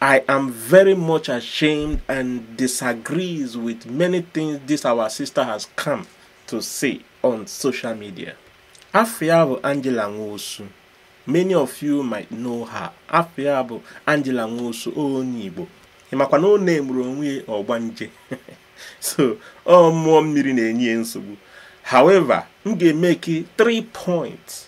I am very much ashamed and disagrees with many things this our sister has come to say on social media. Afa ya bụ Angela Nwosu. Many of you might know her. Afa ya bụ Angela Nwosu onye Igbo. Ị makwa na ọ na-emere onwe ya ọgbanje. so ọ mmụọ mmiri na-enye ya nsogbu. However, m ga-emeki three points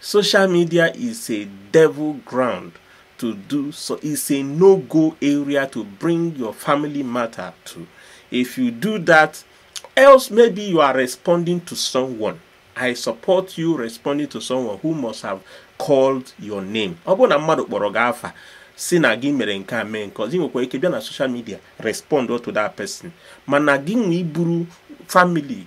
Social media is a devil ground to do so it's a no-go area to bring your family matter to. If you do that, else maybe you are responding to someone. I support you responding to someone who must have called your name. Ọ bụrụ na mmadụ kpọrọ gị afa sị na gị mere nke a mee nke ọzọ ị nwekwa ike bịa na social media respond to that person mana gị nwa iburu family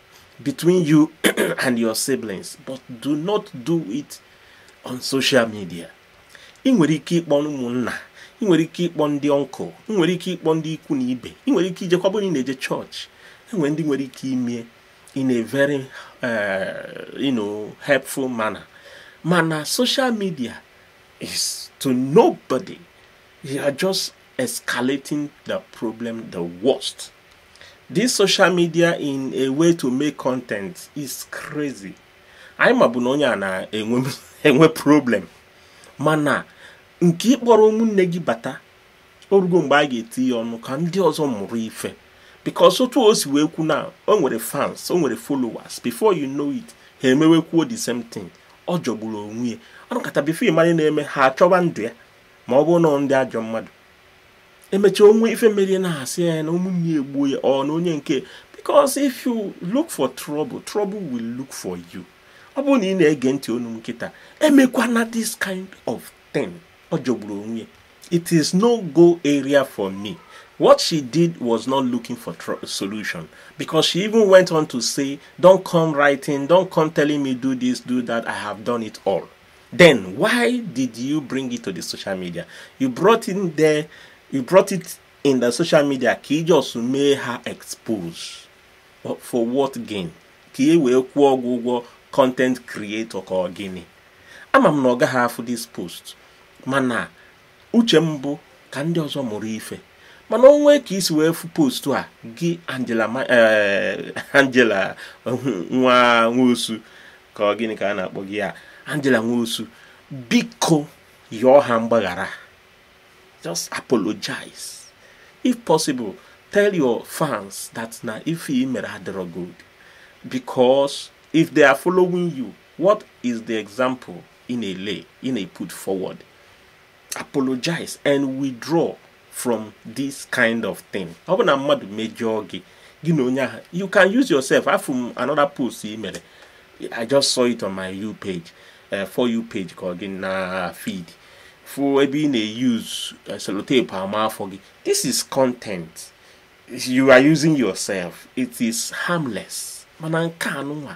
between you and your siblings but do not do it on social media ị nwere ike ịkpọ ụmụnna ị nwere ike ịkpọ ndị uncle ị nwere ike ịkpọ ndị ikwu na ibe ị nwere ike ijekwa ọ bụ na ị na-eje church e nwee ndị nwere ike ime ya in a very uh, you know, helpful manner mana social media is to nobody you are just escalating the problem the worst this social media in a way to make content is crazy anyị mabu na onye a na-enwe problem mana nke ị kpọrọ ụmụnne gị bata o rugo mgbe anyị ga-etinye ọnụ ka ndị ọzọ mụrụ ife because otu o si wee kwu na o nwere fans o nwere followers before you know it ha emewekwuo the same thing ọ jọgburu onwe ya a nọkata before ị ma ife na-eme ha achọba ndụ ya ma ọ bụrụ na ndị ajọ mmadụ e mechaa o nwee ife mere ya a na-asị na ụmụnne ya egbuo ya ọ na onye nke because if you look for trouble trouble will look for you ọ bụrụ na ị na-ege ntị onu m kịta emekwana this kind of thing ọ jọgburu onwe it is no go area for me what she did was not looking for solution because she even went on to say don't come writing don't come telling me do this do that i have done it all Then why did you bring it to the social media? You brought in there, you brought it in the social media ka ị just mee ha expose for what gain ka e wee kwụọ gị ụgwọ content creator ka ọ gịnị ama m na ọ gaghị afụ this post mana uche m bụ ka ndị ọzọ mụrụ ife mana o nwee ka i si wee fụ post a gị Angela eh, Angela nwa Nwosu ka ọ gịnị ka a na-akpọ gị ya Angela Nwosu biko yọọ ha mgbaghara just apologize if possible tell your fans that na ife i mere adịrọ good because if they are following you what is the example ị na-ele ị na-put forward apologize and withdraw from this kind of thing ọ bụ na mmadụ mejọọ gị gị na onye ahụ you can use yourself afụ m another post ị mere i just saw it on my you page uh, for you page ka ọ gị na feed fụ ebe ị na-use eh, sellotape ama afọ gị this is content you are using yourself it is harmless mana nke anụnwa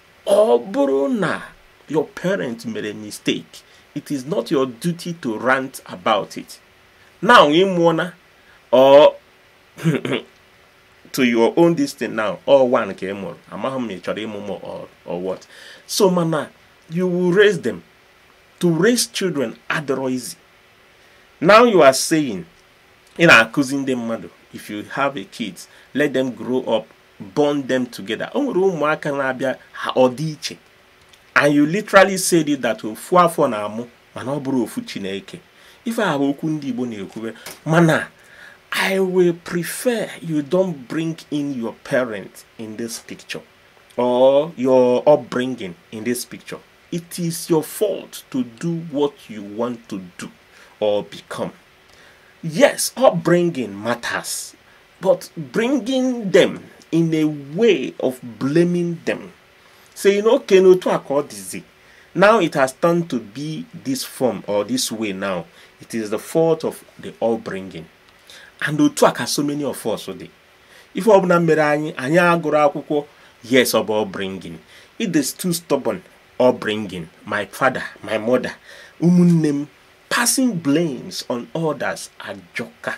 ọ bụrụ na your parent mere mistake it is not your duty to rant about it now ị mụọna or to your own this thing now ọ one ka ị mụrụ amaghị m ma ị chọrọ ịmụ more or what so mana you will raise them to raise children adịrọ easy now you are saying ị na-akụzi ndị mmadụ if you have a kids let them grow up bond them together o nwere ụmụaka na-abịa ha ọ dị iche and you literally said it that ofu afọ na-amụ mana ọ bụrọ ofu chi na-eke ife ahụ bụ okwu ndị igbo na-ekwube mana i will prefer you don't bring in your parent in this picture or your upbringing in this picture it is your fault to do what you want to do or become yes upbringing matters But bringing them in a way of blaming them. Saying, okay, no, to accord disease. Now it has turned to be this form or this way now. It is the fault of the all bringing. And otu aka so many of us dị. Ife ọbụla mere anyị anyị agụrụ akwụkwọ yes ọ bụ bringing. It is too stubborn all bringing. My father, my mother, ụmụnne m passing blames on others ajọka.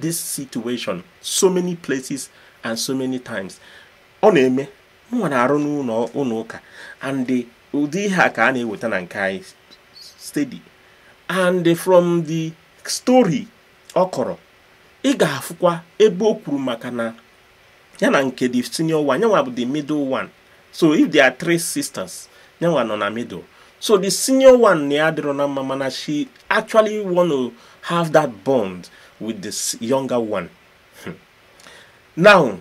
this situation so many places and so many times ọ na-eme mụnwa na-arụ n'ụnọ ụka and ụdị ihe a ka a na-eweta na nke anyị steady and from the story ọ kọrọ ị ga-afụkwa ebe o kwuru maka na ya na nke the senior one yanwa bụ the middle one so if there are three sisters nyanwa nọ na middle so the senior one na ya adịrọ na mma mana she actually want to have that bond with this younger one hmm. now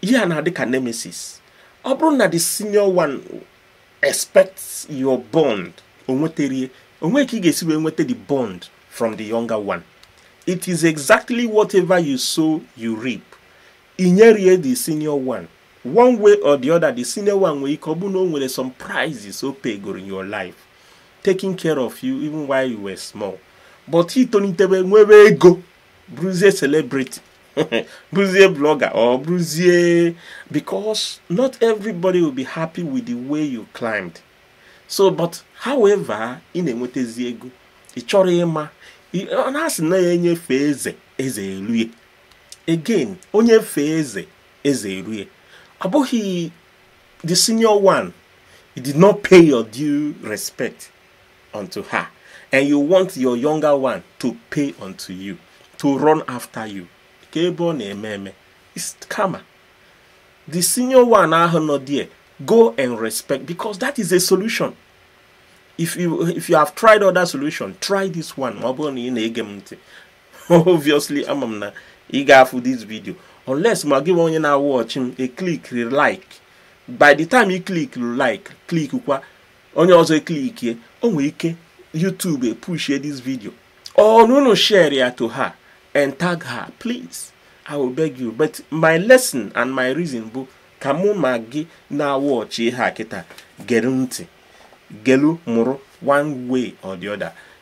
ihe a na-adị ka nemesis ọ bụrụ na the senior one expects your bond o nweterọ ya o nwerọ ka ị ga-esi wee nweta the bond from the younger one it is exactly whatever you sow you reap i nyerie the senior one one way or the other the senior one nwere ike ọ bụ na o nwere some prices ọ paygoro in your life taking care of you even while you were small but i tolitebe nwebe ego bụrụzie celebrity bụrụzie blogger or bụrụzie because not everybody will be happy with the way you climbed so but however ị na-enwetazi ego ị chọrọ ịma a na-asị na onye fee eze eze elue ya again onye fee eze eze erue ọ bụghị the senior one you did not pay your due respect unto her and you want your younger one to pay unto you to run after you kee ebe ọ na-eme eme it's karma the senior one ahụ nọ there go and respect because that is a solution if you if you have tried other solution try this one ma ọ bụrụ na ị na-ege m ntị obviously ama m na ị ga-afụ this video unless ma gị nwa onye na-watch m e click like by the time you click like click kwa onye ọzọ eklikie o nwere ike YouTube epushie this video or unu share ya to her and tag her please I will beg you but my lesson and my reason bụ ka mụ ma gị na-watch ihe a kịta gere ntị gelu mụrụ one way or the other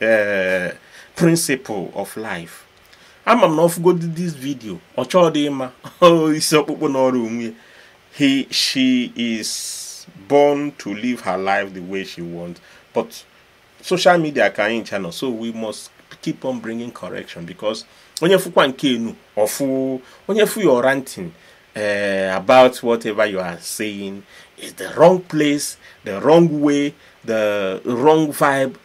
eh, principle of life ama m na ọ fụgodi this video ọ chọọ dị mma isi ọkpụkpụ nọrọ onwe ya she is born to live her life the way she wants but social media ka anyị ncha nọ so we must keep on bringing correction because onye fụkwa nke enu ọfụ onye fụ your ranting uh, about whatever you are saying is the wrong place the wrong way the wrong vibe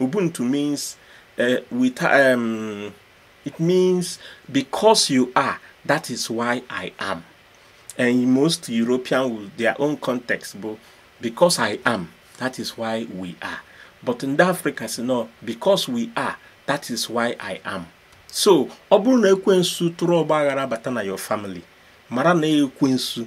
Ubuntu means uh, with um, it means because you are that is why I am and most European with their own context bụ because I am that is why we are but ndị Africa sị no because we are that is why I am so ọ bụrụ na ekwensu tụrụ ọgba aghara bata na your family mara na ekwensu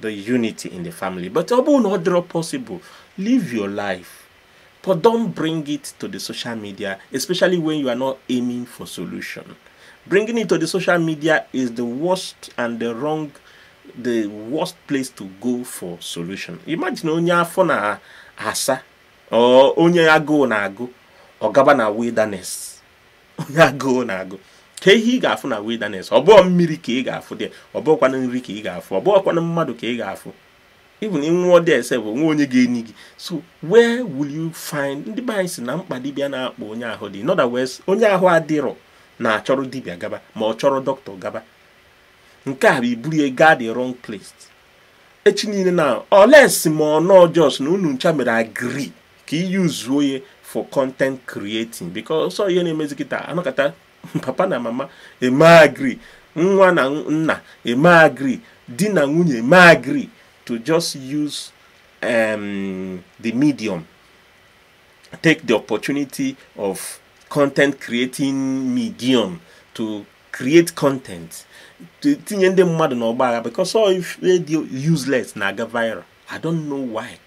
the unity in the family but ọ bụrụ na ọ dịrọ possible live your life but don't bring it to the social media especially when you are not aiming for solution bringing it to the social media is the worst and the wrong the worst place to go for solution imagine onye afọ na-asa or onye agụụ na-agụ ọ gaba na wilderness onye agụụ na-agụ kee ihe ị ga-afụ na wilderness ọ bụ mmiri ka ị ga-afụ there ọ bụkwanụ nri ka ị ga-afụ ọ bụkwanụ mmadụ ka ị ga-afụ even ị nwụọ there ese bụ nwa onye ga-eni gị so where will you find ndị be anyị sị na mkpa dibịa na-akpa onye ahụ dị in other words onye ahụ adịrọ na-achọrọ dibịa gaba ma ọ chọrọ dọkịta gaba nke a bụ iburu ya gaa the wrong place echi niile na unless ma unu just na unu ncha mere agree ka i use ya for content creating because ọ sọ ihe na-emezi kịta a nọkata papa na mama eme agree nwa na nna eme agree di na nwunye eme agree to just use um, the medium take the opportunity of content creating medium to create content tinye ndị mmadụ n'ọgba agha because sọ ife dị useless na-aga viral I don't know why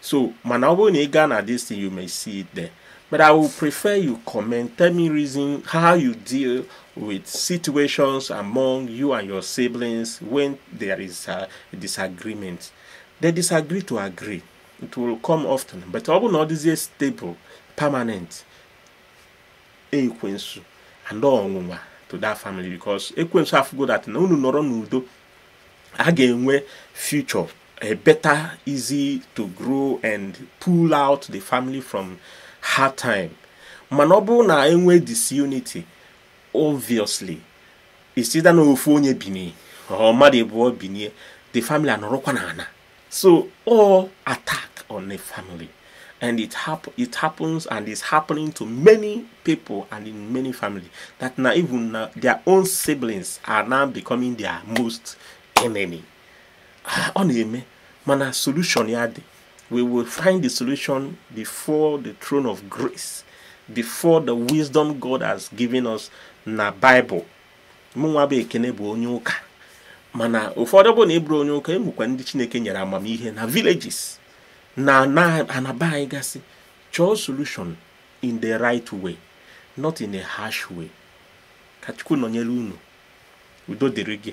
so mana ọ bụrụ na ị gaa na this thing you may see it there but i will prefer you comment tell me reason how you deal with situations among you and your siblings when there is a disagreement they disagree to agree it will come often but ọ bụrụ na ọ dịzie stable permanent ekwensu and ọnwụnwa to that family because ekwensu afụgo that na unu nọrọ n'udo a ga-enwe future a better, easy to grow and pull out the family from hard time. Mana ọ bụrụ na enwe disunity, obviously, isida na ofu onye bini, ọ mmadụ abụọ binie, the family anọrọkwa na ana. So all attack on a family. and it hap it happens and is happening to many people and in many families that now even uh, their own siblings are now becoming their most enemy ọ na-eme mana solution ya dị we will find the solution before the throne of grace before the wisdom God has given us na Bible mụnwa bụ ekene bụ onye ụka mana ụfọdụ bụ na ị bụrọ onye ụka e nwekwa ndị Chineke nyere amamihe na villages na ana be anyị gasị chọọ solution in the right way not in a harsh way ka chukwu nọnyere unu udo dịrị gị